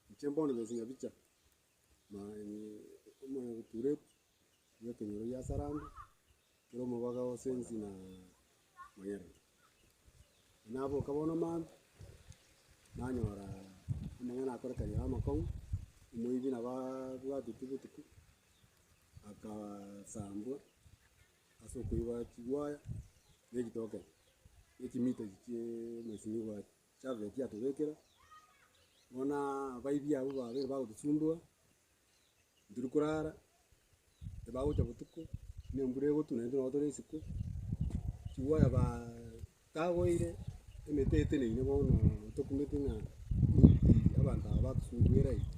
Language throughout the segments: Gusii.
Inche mbono nyonsi nyabicha, omoturetu bwa ekenyoro gia Saranga, ekero omobaga o Sensi na Mayanja. Naboka bono mambia, nanyora amang'ana akorekaniire aro amakong'u, omoibi nabo aabwateti botuko, akasambwa ase okoiba chigwaya na echitokero, na echimiita echi chia amasimigwa aria. Chaveti atobekera, bono abaibi abwo babere bagotosumbua, ntiri korara, tibagocha botuko, buna embura egotwa naintwe nabo tore isiko, chigoya tagoire, emete eteneine bono tokumete ng'a abanto aba batosumbuire aiga.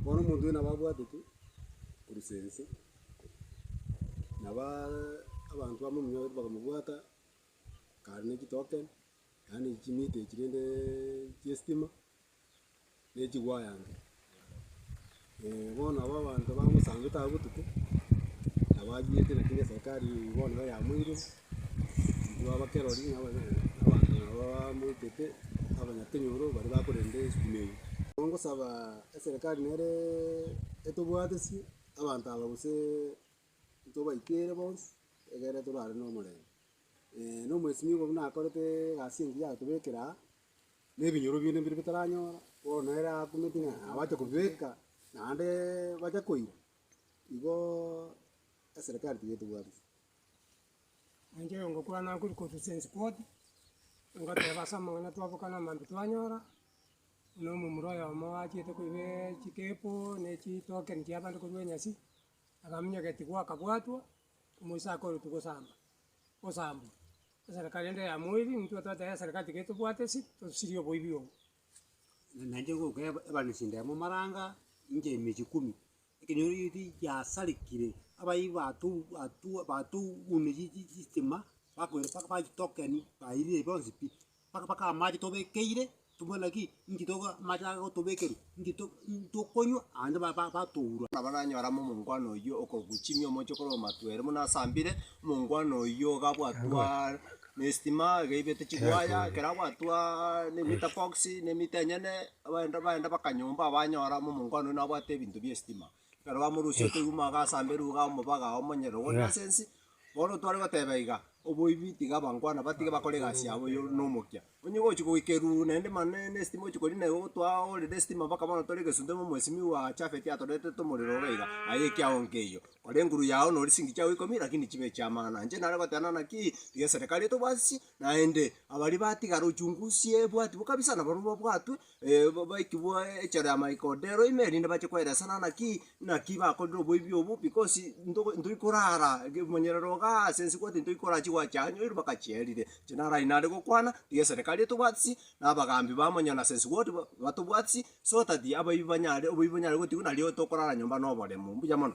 Bono omonto oyo nabo abwatete korisia inse, nabo abanto bamominyoretwe bakamobwata, akarenta chitoken. yaani chimita echi rende chiestima na echiwaya iga. Bono aba abanto bagosambete aba botuko, nabo achiete naki na eserikari bono iga yamoirire, intwe abakerori na abanyene na abanto nabo bamoitete, abanyakenyoro baria bakorenta estima eye. Ekero ngosaba eserikari nere etobwatesie abanto aba gose tobaikere bonsi egere torare na omorembe. Nomobosimi obo buna akorete egasi engiya agotobekera aa, na ebinyoro bi'ne mbire bitaranyora, bono nere akumeti ng'a abate kobibeka naende bache koira, igoo eserekari tiga etobwati. Nainche oyongokwana nkori korusia ense koti, ngoteba ase amang'ana twabokana amaambia twanyora, buna omomura oyomo achiete koibeee chikeepo, ne chitokeni chiabande korwa enyasi, akaminyokia tigwa akabwatwa. Omoisa akoorotwe gosamba, osambwe, eserikari ende ya moiri, intwe twateba eserikari tiga etobwate ase tosirie oboibi obo. Naende ngoka eba- ebarusia endemo momaranga inche emechie kumi, ekenyoro gete giasarigire, abaibi bato- bato- batogunire chi- chi- chitima, bakoira mpaka bachitokenia, bairire bonsi pi. Mpaka mpaka amache tobekeire tobwate ki inki toka amache aya gotobekerwa inki to inki tokonywa naende ba ba batourwa. Nabaranyora amo omongwana oyio okoguchimia omochie okore omatwa ere buna asambire, omongwana oyio iga abwatwaa nestima iga aibete chiwaya ekero abwatwaa ne meter box ne meter enyene, abaenda baenda baka nyomba abanyora amo omongwana oyio nabwate ebinto bia estima. Ekero bamorusia otoigwa mwago ase amberi iga omobaga omonyene ogo na ase ense, bono tware goteba iga, oboibi tiga bankwana batige bakore egasi yabo yo nomokia. Onye gochi goika eruru naende mane ne estima ochi korina igo twaorire estima mpaka bono tore egesunte ng'a omwesimiwa oa Chafeti atoretete omorero iga iga, aye ekia onke eyio. Kora enguru yao nori chingi chiago ikomi lakini chibe chi'amang'ana. Inche nare goteba nana ki, tiga eserekari etobwatisie, naende abaria batigara ochungusie ebwatiwa kabisa nabarobwo babwatwe, baikigwe echaro ya Mike Odero ime, erinde bache koelesana naki naki bakorire oboibi obo, because ntogo ntori korara ge monyerero igaa ase ense kwati ntori korara chigwa chianyoirwe mpaka chierire. Inche naro aywo nare gokwana, tiga eserekari etobwatisie, na abagambi ba monyo na ase ense gwoti ba- batobwatisie, so that abaibi banyare oboibi bonyare gotigwa nario tokorara nyomba na oboremu. Mbuya mono.